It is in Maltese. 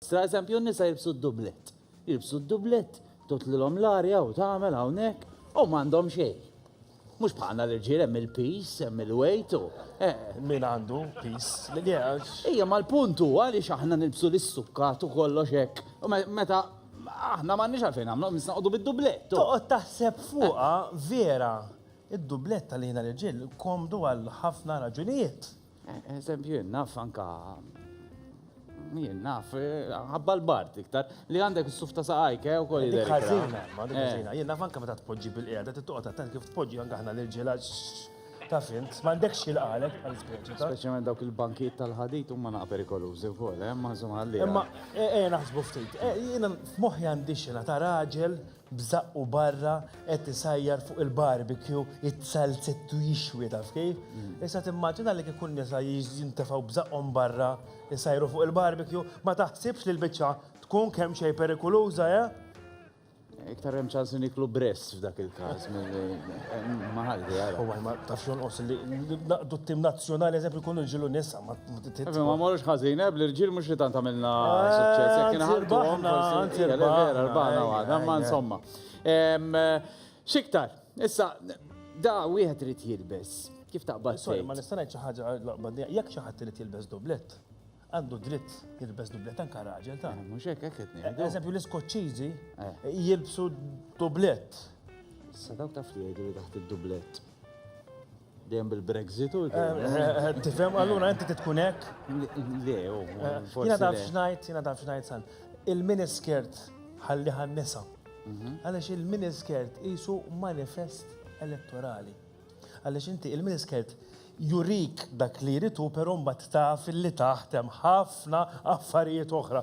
Sra eżempju n-nisa jilbsu d-dublett. Jilbsu d-dublett, tutlilhom l-arja u tagħmel hawnhekk u m'għandhom xejn. Mhux bħalna l-irġiel hemm il-pis, hemm il-wejt u. Eh. Min għandu pis li jgħax. Ejja mal-punt huwa li aħna nilbsu l-sukkat u kollox hekk. U meta aħna m'għandniex għalfejn nagħmlu, nisnaqdu bid-dublett. Toqgħod taħseb fuqha vera. Id-dublett tal-ħina l-irġiel komdu għal ħafna raġunijiet. Eżempju, jien naf anka jien naf ħabba l-bart iktar li għandek s-suf ta' saqajk eh, u koll jidher. Ħażina, ma dik ħażina. Jien naf anka meta tpoġġi bil-qiegħda, trid toqgħod attent kif tpoġġi anka aħna l-irġiela ta' fint, m'għandekx xilqalek għal speċi ta'. Speċjalment dawk il-bankijiet tal-ħadid huma naqa' perikolużi wkoll, eh, ma insomma għalli. Imma ejja naħsbu ftit. Jiena f'moħħi għandi xena ta' raġel b'żaqqu barra qed isajjar fuq il-barbecue it-salzett u jixwi taf kif. Issa timmaġina li kieku n-nisa jintefgħu b'żaqqhom barra jsajru fuq il-barbecue, ma taħsibx li l-biċċa tkun kemm xejn perikuluża, eh? Iktar hemm ċans niklu bress f'dak il-każ ma ħalli għara. U ma tafx jonqos li naqdu t-tim nazzjonali eżempju jkunu ġilu nisa. Efe, ma morux ħazin, eb, l-irġil mux li tant għamilna eh, suċċess, jek kien ħaltu għom, forsi, vera, rbana għada, ma insomma. Xiktar, issa, da wieħed rrit jilbes, kif taqbad? Sorry, ma nistanaj ċaħġa laqbad, jek ċaħat rrit jilbes dublet, għandu dritt jilbes dublet anka raġel ta' eh, mhux hekk hekk qed eh, Eżempju l-Iskoċċiżi jilbsu dublet. Sa dawk taf li jgħidu li taħt id-dublet. Dejjem bil-Brexit u l-għem. Tifhem, allura inti titkun hekk? Le, u. Jina taf xnajt, jina taf xnajt san. Il-miniskirt ħalli ħannisa. Mhm. Għaliex il-miniskirt jisu manifest elettorali. Għaliex inti il-miniskirt jurik dak li jritu, pero mbagħad taf li taħtem ħafna affarijiet oħra.